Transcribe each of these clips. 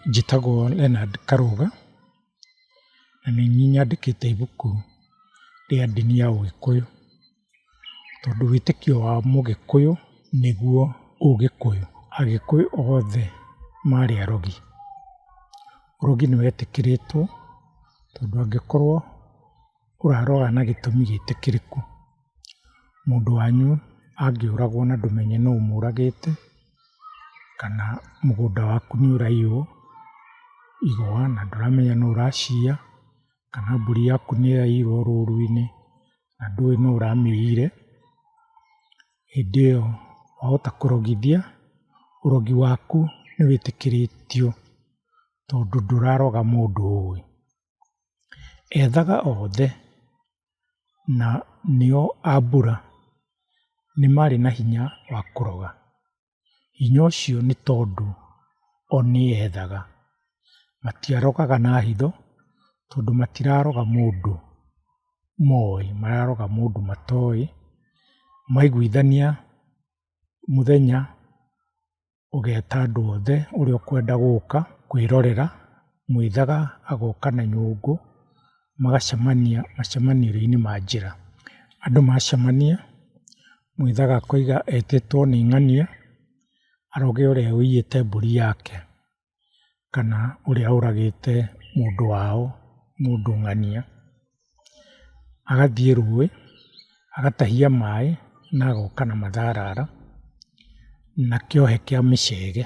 Njĩtagwo Leonard Karũga, na nĩ niĩ nyandĩkĩte ibuku rĩa ndini ya ũgĩkũyũ, tondũ wĩtĩkio wa mũgĩkũyũ nĩguo ũgĩkũyũ. Agĩkũyũ othe marĩ arogi. Ũrogi nĩ wetĩkĩrĩtwo tondũ angĩkorwo ũraroa na gĩtũmi gĩtĩkĩrĩku. Mũndũ wanyu angĩũragwo na ndũmenye nũ ũmũragĩte, kana mũgũnda waku nĩ ũraiywo igwa na ndũramenya nũ ũraciya, kana mbũri yaku nĩ yaiyirwo rũru-inĩ na ndũĩ nũ ũramĩiyire, hĩndĩ ĩyo wahota kũrogithia, ũrogi waku nĩ wĩtĩkĩrĩtio tondũ ndũraroga mũndũ ũĩ. Ethaga othe na nĩo a mbura nĩ marĩ na hinya wa kũroga. Hinya ũcio nĩ tondũ o nĩ ethaga. Matiarogaga na hitho tondũ matiraroga mũndũ moĩ, mararoga mũndũ matoĩ. Maiguithania mũthenya ũgeta andũ othe ũrĩa ũkwenda gũka kwĩrorera, mwĩthaga agoka na nyũngũ, magacemania macemanĩrio-inĩ ma njĩra. Andũ macemania, mwĩthaga akoiga etĩtwo nĩ ng'ania, aroge ũrĩa ũiyĩte mbũri yake. kana ũrĩa ũragĩte mũndũ wao, mũndũ ng'ania, agathiĩ rũĩ, agatahia maĩ na agoka na matharara na kĩohe kĩa mĩcege,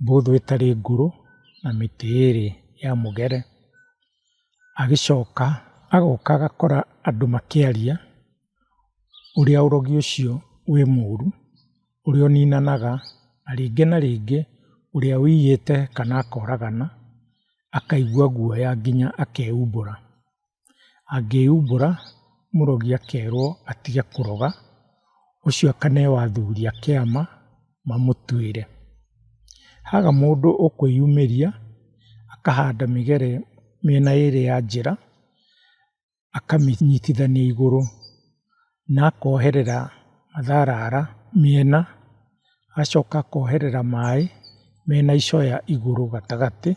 mbũthũ ĩtarĩ ngũrũ na mĩtĩ ĩrĩ ya mũgere. Agĩcoka agoka agakora andũ makĩaria ũrĩa ũrogi ũcio wĩ mũru. ũrĩa ũninanaga, na rĩngĩ na rĩngĩ ũrĩa wĩiyĩte kana akoragana akaigua guoya nginya akehumbũra. Angĩhumbũra mũrogi akerwo atige kũroga, ũcio akaneyo athuri a kĩama mamũtuĩre. Haga mũndũ ũkwĩyumĩria akahanda mĩgere mĩena ĩrĩ ya njĩra. akamĩnyitithania igũrũ na akoherera matharara mĩena, agacoka akoherera maĩ mena icoya igũrũ gatagatĩ,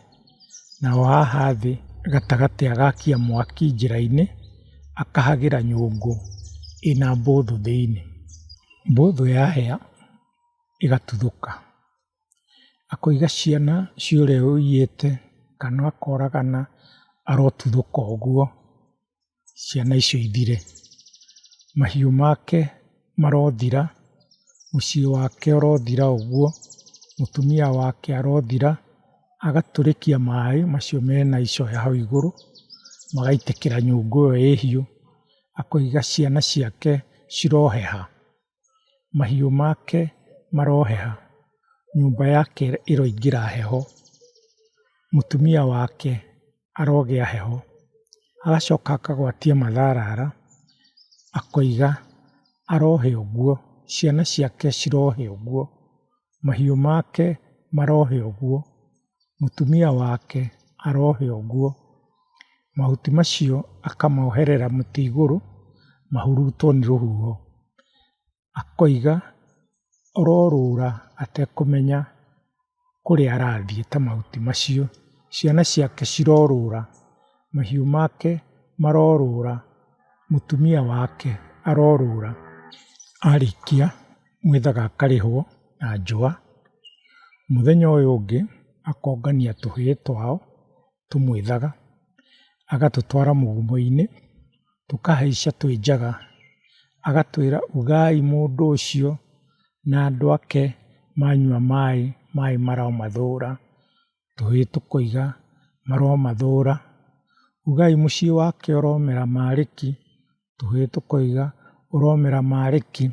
naho haha thĩ gatagatĩ agakia mwaki njĩra-inĩ, akahagĩra nyũngũ ĩna mbũthũ thĩiniĩ. Mbũthũ yahĩa ĩgatuthũka. akoiga ciana cia ũrĩa ũiyĩte kana akoragana arotuthũka ũguo ciana icio ithire. Mahiũ make marothira, mũciĩ wake ũrothira ũguo, mũtumia wake arothira, agatũrĩkia maĩ macio mena icoya hau igũrũ, magaitĩkĩra nyũngũ ĩyo ĩ hiũ, akoiga ciana ciake ciroheha. mahiũ make maroheha, nyũmba yake ĩroingĩra heho, mũtumia wake arogĩa heho, agacoka akagwatia matharara akoiga arohe ũguo, ciana ciake cirohe ũguo, mahiũ make marohe ũguo. mũtumia wake arohe ũguo, mahuti macio akamoherera mũtĩ igũrũ mahurutwo nĩ rũhuho. Akoiga ororũra atekũmenya kũrĩa arathiĩ ta mahuti macio. Ciana ciake cirorũra, mahiũ make marorũra, mũtumia wake arorũra arĩkia. mwĩthaga akarĩhwo na njũa, mũthenya ũyũ ũngĩ akongania tũhĩĩ twao tũmwĩthaga, agatũtwara mũgũmo-inĩ, tũkahaica twĩ njaga, agatwĩra ugai mũndũ ũcio na andũ ake manyua maĩ, maĩ maromathũra, tũhĩĩ tũkoiga maromathũra, ugai mũciĩ wake ũromera marĩki, tũhĩĩ tũkoiga, ũromera marĩ ki?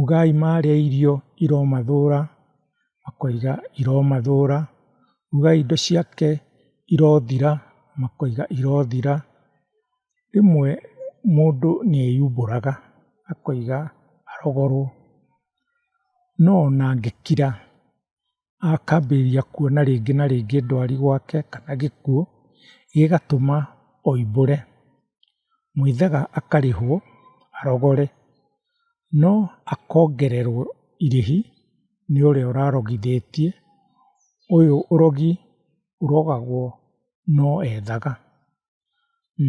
Ugai marĩa irio iromathũra, makoiga iromathũra. Ugai indo ciake irothira, makoiga irothira. Rĩmwe mũndũ nĩ eyumbũraga akoiga arogorwo. No ona angĩkira akambĩrĩria kuona rĩngĩ na rĩngĩ ndwari gwake kana gĩkuũ, gĩgatũma oimbũre. Mwĩthĩga akarĩhwo arogore, no akongererwo irĩhi nĩ ũrĩa ũrarogithĩtie, ũyũ ũrogi ũrogagwo no ethaga.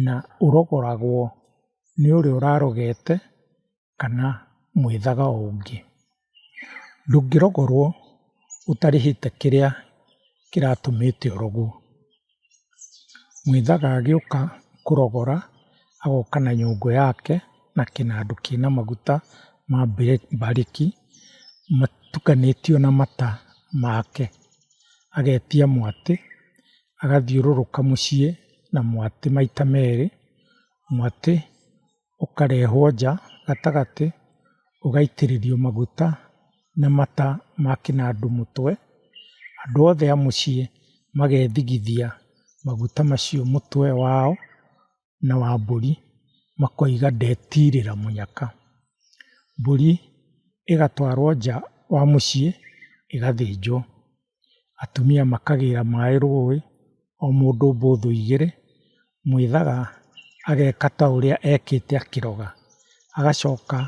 na ũrogoragwo nĩ ũrĩa ũrarogete kana mwĩthaga o ũngĩ. Ndũngĩrogorwo ũtarĩhĩte kĩrĩa kĩratũmĩte ũrogwo. Mwĩthaga agĩũka kũrogora agoka na nyũngũ yake na kĩnandũ kĩna maguta ma mbarĩki matukanĩtio na mata make, agetia mwatĩ agathiũrũrũka mũciĩ na mwatĩ maita merĩ, mwatĩ ũkarehwo nja gatagatĩ ũgaitĩrĩrio maguta na mata ma kĩnandũ mũtwe, andũ othe a mũciĩ magethigithia maguta macio mũtwe wao na wa mbũri makoiga ndetirĩra mũnyaka. Mbũri ĩgatwarwo nja wa mũciĩ ĩgathĩnjwo. Atumia makagĩra maĩ rũĩ o mũndũ mbũthũ igĩrĩ, mwĩthaga ageka ta ũrĩa ekĩte akĩroga. Agacoka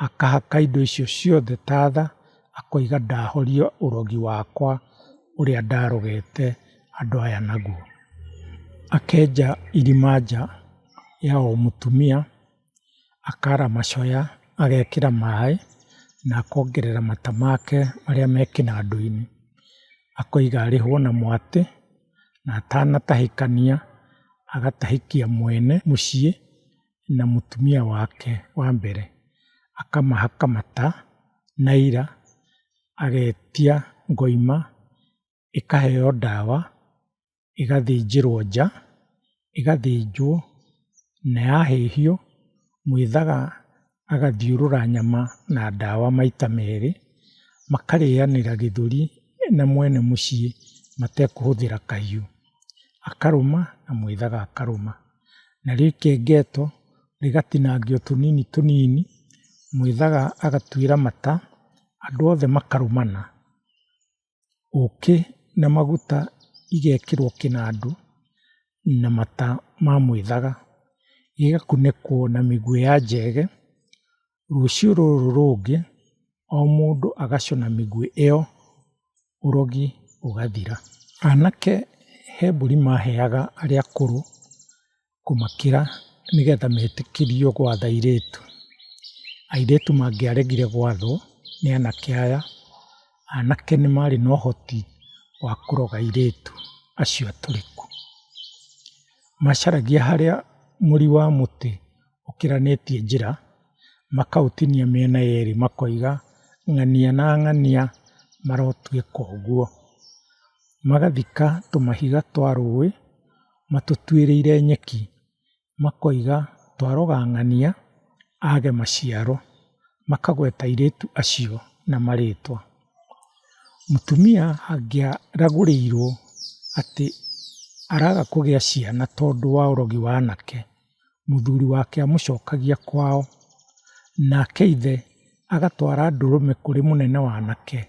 akahaka indo icio ciothe ta tha akoiga ndahoria ũrogi wakwa ũrĩa ndarogete. andũ aya naguo. Akenja irima nja ya o mũtumia, akaara macoya, agekĩra maĩ na akongerera mata make marĩa me kĩnandũ-inĩ. Akoiga arĩhwo na mwatĩ na atanatahĩkania agatahĩkia mwene mũciĩ na mũtumia wake wa mbere. Akamahaka mata na aira, agetia ngoima. ĩkaheo ndawa, ĩgathĩnjĩrwo nja, ĩgathĩnjwo na yahĩhio mwĩthaga agathiũrũra nyama na ndawa maita merĩ, makarĩanĩra gĩthũri na mwene mũciĩ matekũhũthĩra kahiũ. Akarũma na mwĩthaga akarũma. Narĩo ikengeto rĩgatinangio tũnini tũnini, mwĩthaga agatuĩra mata, andũ othe makarũmana. ũkĩ na maguta igekĩrwo kĩnandũ na mata ma mwĩthaga, gĩgakunĩkwo na mĩguoya njege, rũciũ rũrũ rũngĩ o mũndũ agacũna mĩguĩ ĩyo, ũrogi ũgathira. Anake he mbũri maheaga arĩa akũrũ. kũmakĩra nĩgetha metĩkĩrio gwatha airĩtu. Airĩtu mangĩaregire gwathwo nĩ anake aya, anake nĩ marĩ na ũhoti wa kũroga airĩtu acio atũrĩku. Macaragia harĩa mũri wa mũtĩ ũkĩranĩtie njĩra, makaũtinia mĩena yerĩ makoiga ng'ania na ng'ania marotuĩka ũguo. Magathika tũmahiga twa rũĩ. matũtuĩrĩire nyeki, makoiga twaroga ng'ania age maciaro, makagweta airĩtu acio na marĩtwa. Mũtumia angĩaragũrĩirwo atĩ araga kũgĩa ciana tondũ wa ũrogi wa anake. mũthuri wake amũcokagia kwao, nake ithe agatwara ndũrũme kũrĩ mũnene wa anake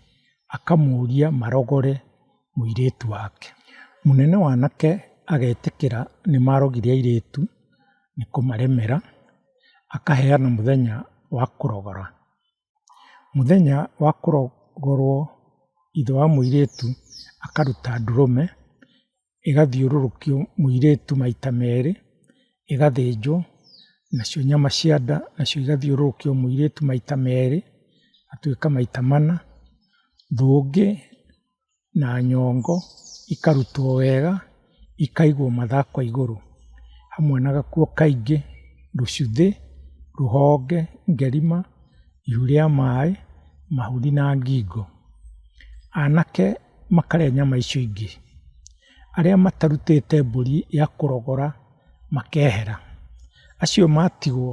akamũria marogore mũirĩtu wake. Mũnene wa anake agetĩkĩra nĩmarogire airĩtu nĩkũmaremera, akaheana mũthenya wa kũrogora. Mũthenya wa kũrongorwo ithe wa mũirĩtu akaruta ndũrũme, ĩgathiũrũrũkio mũirĩtu maita merĩ, ĩgathĩnjwo, nacio nyama cia nda nacio igathiũrũrũkio mũirĩtu maita merĩ, igatuĩka maita mana. Ũndũ ũngĩ na nyongo ikarutwo wega ikaigwo mathako igũrũ hamwe na gakuo kaingĩ, rũcuthĩ, rũhonge, ngerima, ihu rĩa maĩ, mahuri na ngingo. Anake makarĩa nyama icio ingĩ. Arĩa matarutĩte mbũri ya kũrogora makehera. Acio matigwo,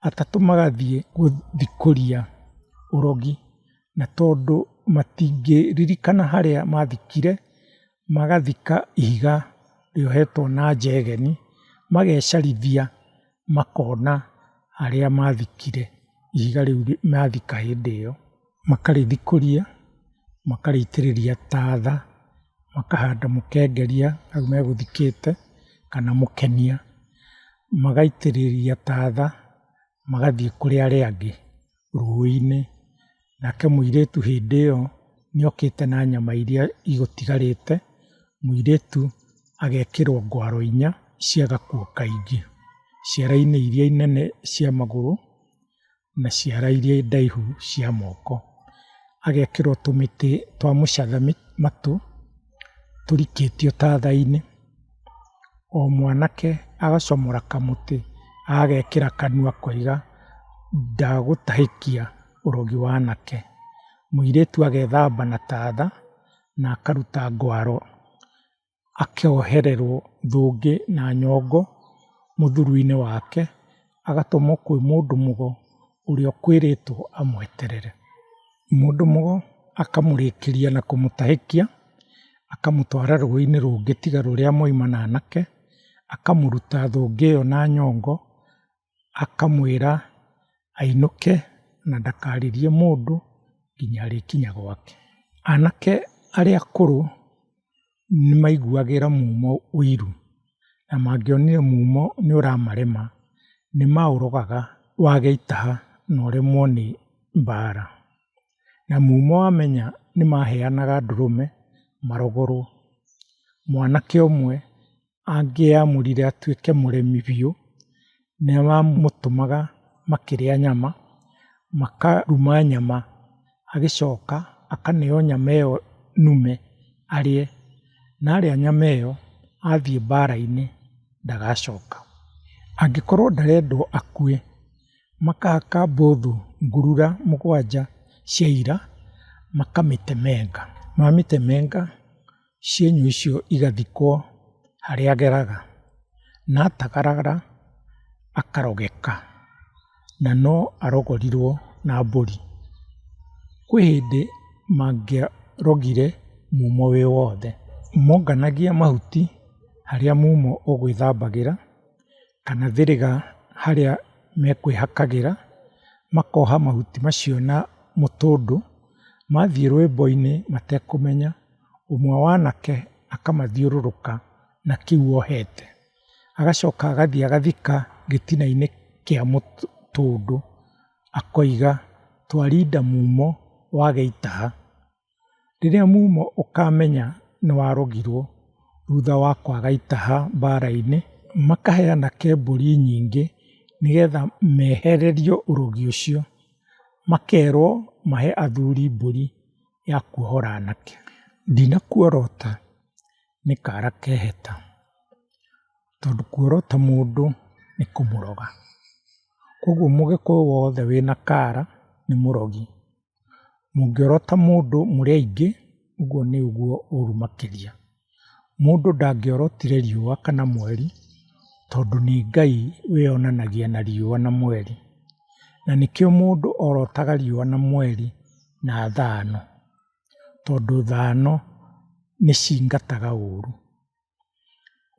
atatũ magathiĩ gũthikũria ũrogi. na tondũ matingĩririkana harĩa mathikire, magathika ihiga rĩohetwo na njegeni, magecarithia makona harĩa mathikire ihiga rĩu mathika hĩndĩ ĩyo, makarĩthikũria, makarĩitĩrĩria tatha, makahanda mũkengeria hau megũthikĩte kana mũkenia, magaitĩrĩria tatha magathiĩ kũrĩa arĩa angĩ. rũĩ-inĩ, nake mũirĩtu hĩndĩ ĩyo nĩokĩte na nyama iria igũtigarĩte, mũirĩtu agekĩrwo ngwaro inya cia gakuo kaingĩ, ciara-inĩ iria nene cia magũrũ, na ciara iria ndaihu cia moko. Agekĩrwo tũmĩtĩ twa mũcatha matũ. tũrikĩtio taatha-inĩ, o mwanake agacomora kamũtĩ agekĩra kanua akoiga ndagũtahĩkia ũrogi wa anake. Mũirĩtu agethamba na taatha na akaruta ngwaro akohererwo thũngĩ na nyongo mũthuru-inĩ wake. agatũmwo kwĩ mũndũ mũgo ũrĩa ũkwĩrĩtwo amweterere. Mũndũ mũgo akamũrĩkĩria na kũmũtahĩkia, akamũtwara rũĩ-inĩ rũngĩ tiga rũrĩa mwauma na anake, akamũruta thũngĩ ĩyo na nyongo, akamwĩra ainũke na ndakaririe mũndũ nginya arĩkinya gwake. Anake arĩa akũrũ nĩ maiguagĩra mumo ũiru, na mangĩonire mumo nĩ ũramarema, nĩ maũrogaga wage itaha na ũremwo nĩ mbaara. Na mumo wamenya nĩ maheanaga ndũrũme marogorwo. Mwanake ũmwe angĩamũrire atuĩke mũrĩmi biũ, nĩwamũtũmaga makĩrĩa nyama, makaruma nyama, agĩcoka akaneo nyama ĩyo nũme arĩe, na arĩa nyama ĩyo athiĩ mbara-inĩ ndagacoka. Angĩkorwo ndarendwo akue, makahaka mbũthũ ngurura mũgwanja cia ira, makamĩtemenga, mamĩtemenga... cienyũ icio igathikwo harĩa ageraga, na atagaragara akarogeka, na no arogorirwo na mbũri. Kwĩ hĩndĩ mangĩarogire mumo wĩ wothe. Monganagia mahuti harĩa mumo ũgwĩthambagĩra. kana thĩrĩga harĩa mekwĩhakagĩra, makoha mahuti macio na mũtũndũ, mathiĩ rwĩmbo-inĩ matekũmenya, ũmwe wa anake akamathiũrũrũka na kĩu ohete. Agacoka agathiĩ agathika gĩtina-inĩ kĩa mũtũndũ, akoiga, twarinda mumo wage itaha. Rĩrĩa mumo ũkamenya nĩ warogirwo thutha wa kwaga itaha mbara-inĩ, makaheana kebũri nyingĩ nĩgetha mehererio ũrogi ũcio, makerwo mahe athuri mbũri ya kuohora anake. Ndinakuorota nĩ kara kehĩta, tondũ kuorota mũndũ nĩ kũmũroga. Koguo mũgĩkũyũ wothe wĩna kara nĩ mũrogi. Mũngĩorota mũndũ mũrĩ aingĩ, ũguo nĩ ũguo ũru makĩria. Mũndũ ndangĩorotire riũa kana mweri, tondũ nĩ Ngai wĩyonanagia na riũa na mweri. Na nĩkĩo mũndũ orotaga riũa na mweri na thano, tondũ thano nĩcingataga ũru.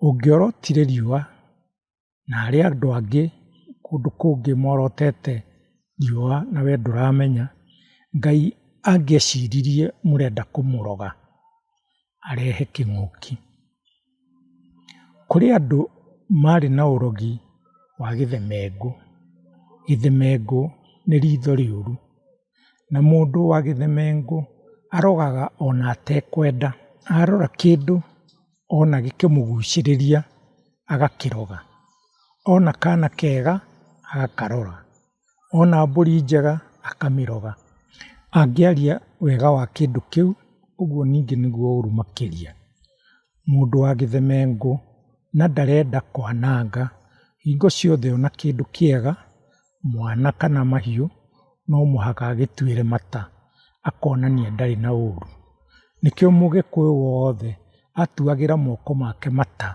Ũngĩorotire riũa na harĩ andũ angĩ kũndũ kũngĩ morotete riũa na we ndũramenya, Ngai angĩeciririe mũrenda kũmũroga arehe kĩng'ũki. Kũrĩ andũ marĩ na ũrogi wa gĩthemengũ. Gĩthemengũ nĩ ritho rĩũru, na mũndũ wa gĩthemengũ arogaga ona atekwenda. Arora kĩndũ... ona gĩkĩmũgucĩrĩria agakĩrora, ona kana kega agakarora, ona mbũri njega akamĩrora, angĩaria wega wa kĩndũ kĩu ũguo ningĩ nĩguo ũru makĩria. Mũndũ wa gĩthemengũ na ndarenda kwananga hingo ciothe ona kĩndũ kĩega. mwana kana mahiũ no mũhaka agĩtuĩre mata akonania ndarĩ na ũru. Nĩkĩo mũgĩkũyũ wothe atuagĩra moko make mata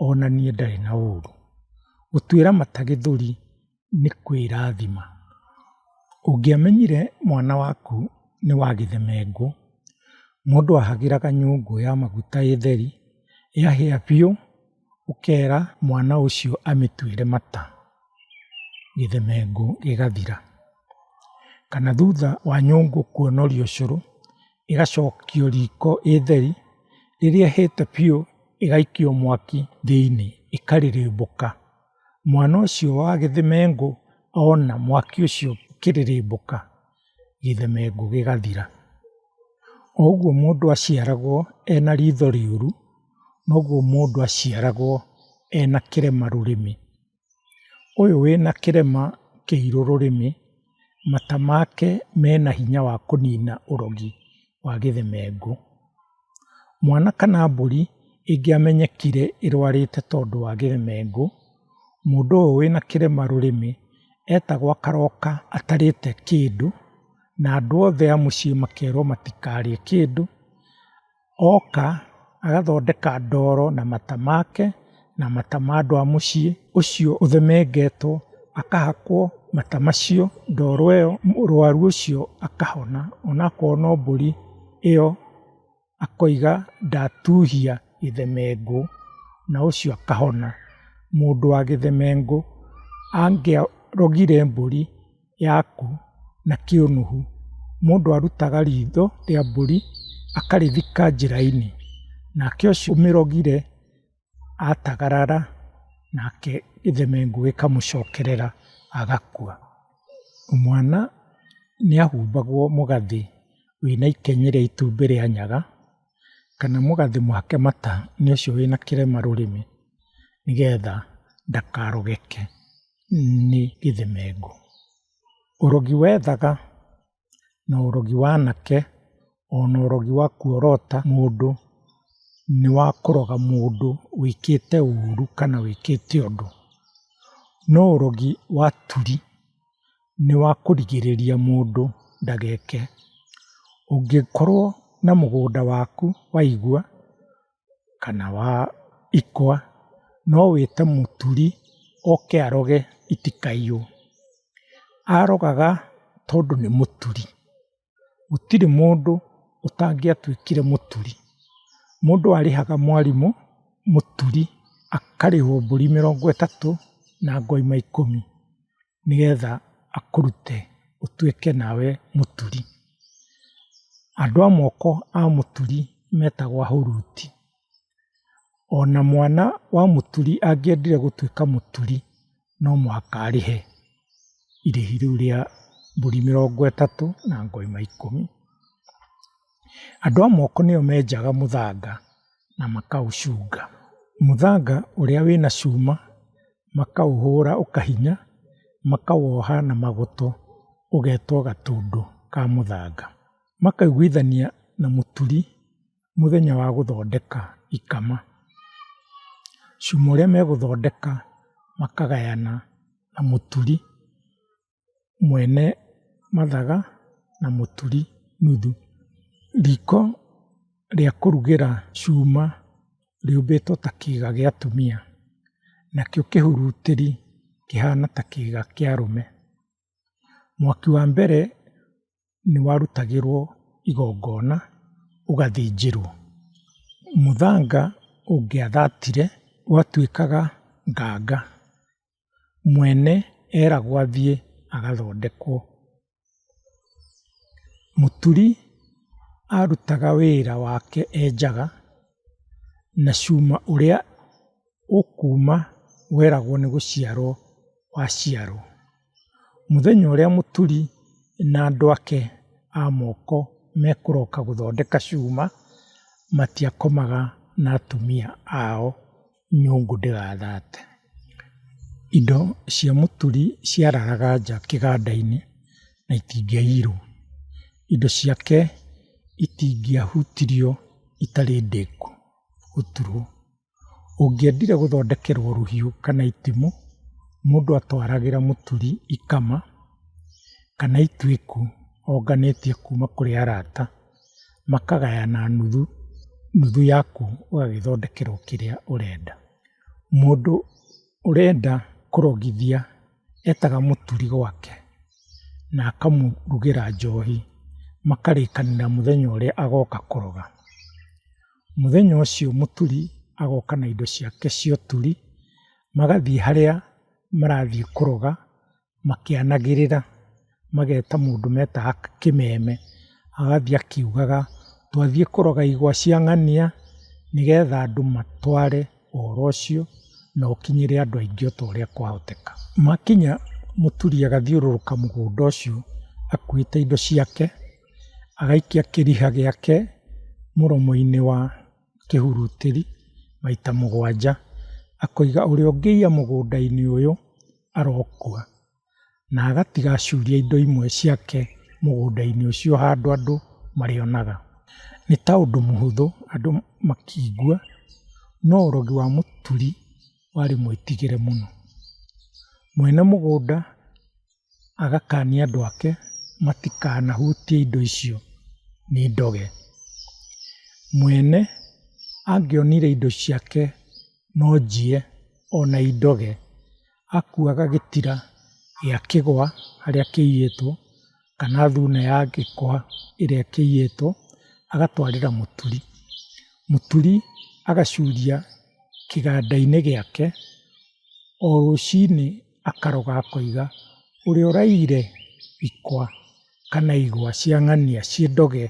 onanie ndarĩ na ũru. Gũtuĩra mata gĩthũri nĩ kwĩrathima. Ũngĩamenyire mwana waku nĩ wa gĩthemengo, mũndũ ahagĩraga nyũngũ ya maguta ĩtheri, yahĩa biũ. ũkera mwana ũcio amĩtuĩre mata, gĩthemengo gĩgathira. Kana thutha wa nyũngũ kũnoria ũcũrũ, ĩgacokio riko ĩ theri, rĩrĩa ĩhĩte biũ ĩgaikio mwaki thĩiniĩ ĩkarĩrĩmbũka. Mwana ũcio wa gĩthemengo ona mwaki ũcio ũkĩrĩrĩmbũka. gĩthemengu gĩgathira. O ũguo mũndũ aciaragwo ena ritho rĩũru, noguo mũndũ aciaragwo ena kĩrema rũrĩmĩ. Ũyũ wĩna kĩrema kĩirũ rũrĩmĩ, mata make mena hinya wa kũnina ũrogi wa gĩthemengu. Mwana kana mbũri ĩngĩamenyekire ĩrwarĩte tondũ wa gĩmengũ, mũndũ ũyũ wĩna kĩrema rũrĩmĩ etagwo akaroka atarĩte kĩndũ na andũ othe a mũciĩ makerwo matikarĩe kĩndũ. Oka agathondeka ndoro na mata make. na mata ma andũ a mũciĩ ũcio ũthemengetwo, akahakwo mata macio, ndoro ĩyo, mũrwaru ũcio akahona. Onakorwo no mbũri ĩyo akoiga ndatuhia gĩthemengo na ũcio akahona. Mũndũ wa gĩthemengo angĩarogire mbũri yaku na kĩũnũhu, mũndũ arutaga ritho rĩa mbũri akarĩthika njĩra-inĩ, nake ũcio ũmĩrogire atagarara nake gĩthemengu gĩkamũcokerera agakua. Mwana nĩahumbagwo mũgathĩ wĩna ikeny rĩa itumbĩ rĩa nyaga, kana mũgathĩ mũhake mata nĩ ũcio wĩna kĩrema rũrĩmĩ nĩgetha ndakarogeke nĩ gĩthemengu. Ũrogi wethaga na ũrogi wa anake, ona ũrogi wa kuorota mũndũ nĩ wa kũroga mũndũ wĩkĩte ũru kana wĩkĩte ũndũ. No ũrogi wa turi nĩ wa kũrigĩrĩria mũndũ ndageke. Ũngĩkorwo na mũgũnda waku waigwa, kana wa ikwa, no wĩte mũturi oke aroge itikaiywo. Arogaga tondũ nĩ mũturi, gũtirĩ mũndũ ũtangĩatuĩkire mũturi. Mũndũ arĩhaga mwarimũ, mũturi akarĩhwo mbũri mĩrongo ĩtatũ na ngoima ikũmi. nĩgetha akũrute ũtuĩke nawe mũturi. Andũ a moko a mũturi metagwo ahuruti. Ona mwana wa mũturi angĩendire gũtuĩka mũturi no mũhaka arĩhe irĩhi rĩu rĩa mbũri mĩrongo ĩtatũ na ng'ombe ikũmi. Andũ a moko nĩo menjaga mũthanga na makaũcunga. Mũthanga ũrĩa wĩna cuma makaũhũra ũkahinya, makawoha na magoto ũgetwo gatũndũ ka mũthanga. Makaiguithania na mũturi mũthenya wa gũthondeka ikama. Cuma ũrĩa megũthondeka makagayana na mũturi. mwene mathaga na mũturi nuthu. Riko rĩa kũrugĩra cuma rĩũmbĩtwo ta kĩga gĩa atumia, nakĩo kĩhurutĩri kĩhana ta kĩga kĩa arũme. Mwaki wa mbere nĩ warutagĩrwo igongona ũgathĩnjĩrwo. Mũthanga ũngĩathatire watuĩkaga nganga. mwene eragwo athiĩ agathondekwo. Mũturi arutaga wĩra wake enjaga, na cuma ũrĩa ũkuma weragwo nĩ gũciarwo waciarwo. Mũthenya ũrĩa mũturi na andũ ake a moko mekũroka gũthondeka cuma, matiakomaga na atumia ao. nyũngũ ndĩgathate. Indo cia mũturi ciararaga nja kĩganda-inĩ na itingĩaiyirwo. Indo ciake itingĩahutirio itarĩ ndĩku gũturwo. Ũngĩendire gũthondekerwo rũhiũ kana itimũ, mũndũ atwaragĩra mũturi ikama kana ituĩku onganĩtie kuma kũrĩ arata. makagayana nuthu, nuthu yaku ũgagĩthondekerwo kĩrĩa ũrenda. Mũndũ ũrenda kũrogithia etaga mũturi gwake na akamũrugĩra njohi, makarĩkanĩra mũthenya ũrĩa agoka kũroga. Mũthenya ũcio mũturi agoka na indo ciake cia ũturi, magathiĩ harĩa marathiĩ kũroga, makĩanagĩrĩra mageta mũndũ metaga kĩmeme, agathiĩ akiugaga twathiĩ kũroga igwa cia ng'ania nĩgetha andũ matware ũhoro ũcio na ũkinyĩre andũ aingĩ o ta ũrĩa kwahoteka. Makinya mũturi agathiũrũrũka mũgũnda ũcio akuĩte indo ciake, agaikia kĩriha gĩake mũromo-inĩ wa kĩhurutĩri maita mũgwanja, akoiga ũrĩa ũngĩiya mũgũnda-inĩ ũyũ. arokua, na agatiga acuria indo imwe ciake mũgũnda-inĩ ũcio handũ andũ marĩonaga. Nĩ ta ũndũ mũhũthũ andũ makĩigua, no ũrogi wa mũturi warĩ mwĩtigĩre mũno. Mwene mũgũnda agakania andũ ake matikanahutie indo icio nĩ ndoge. Mwene angĩonire indo ciake. no njie ona indoge, akuaga gĩtira gĩa kĩgwa harĩa kĩiyĩtwo kana thuna ya gĩkwa ĩrĩa kĩiyĩtwo agatwarĩra mũturi. Mũturi agacuria kĩganda-inĩ gĩake, o rũcinĩ akaroga akoiga ũrĩa ũraiyire ikwa. kana igwa cia ng'ania ciĩ ndoge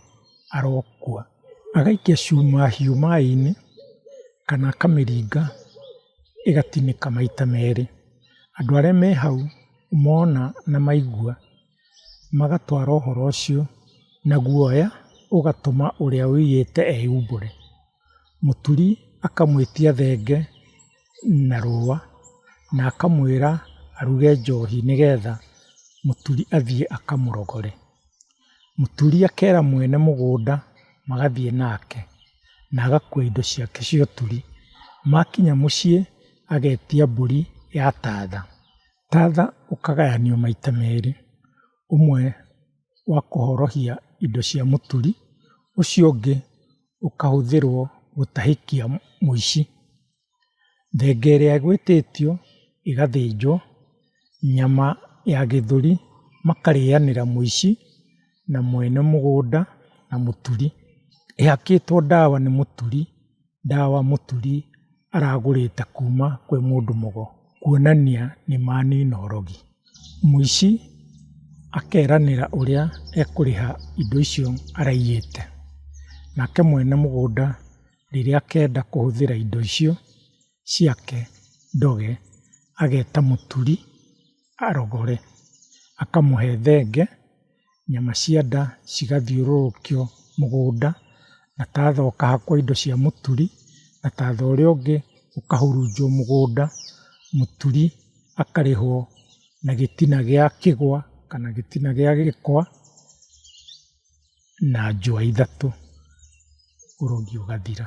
arokua. Agaikia cuma hiũ maĩ-inĩ kana akamĩringa ĩgatinĩka maita merĩ. Andũ arĩa me hau mona na maigua magatwara ũhoro ũcio na guoya ũgatũma ũrĩa ũiyĩte eyumbũre. mũturi akamwĩtia thenge na rũa na akamwĩra aruge njohi nĩgetha mũturi athiĩ akamũrogore. Mũturi akera mwene mũgũnda magathiĩ nake na agakua indo ciake cia ũturi. Makinya mũciĩ agetia mbũri ya tatha. Tatha ũkagayanio maita merĩ, ũmwe wa kũhorohia indo cia mũturi, ũcio ũngĩ ũkahũthĩrwo gũtahĩkia mũici. Thenge ĩrĩa ĩgwĩtĩtio ĩgathĩnjwo, nyama ya gĩthũri makarĩanĩra mũici na mwene mũgũnda na mũturi. Ĩhakĩtwo ndawa nĩ mũturi, ndawa mũturi aragũrĩte kuma kwĩ mũndũ mũgo. kuonania nĩ manina ũrogi. Mũici akeranĩra ũrĩa ekũrĩha indo icio araiyĩte, nake mwene mũgũnda rĩrĩa akenda kũhũthĩra indo icio ciake ndoge, ageta mũturi arogore, akamũhe thenge. nyama cia nda cigathiũrũrũkio mũgũnda, na tatha ũkahakwo indo cia mũturi, na tatha ũrĩa ũngĩ ũkahurunjwo mũgũnda, mũturi akarĩhwo na gĩtina gĩa kĩgwa kana gĩtina gĩa gĩkwa na njũa ithatũ, ũrogi ũgathira.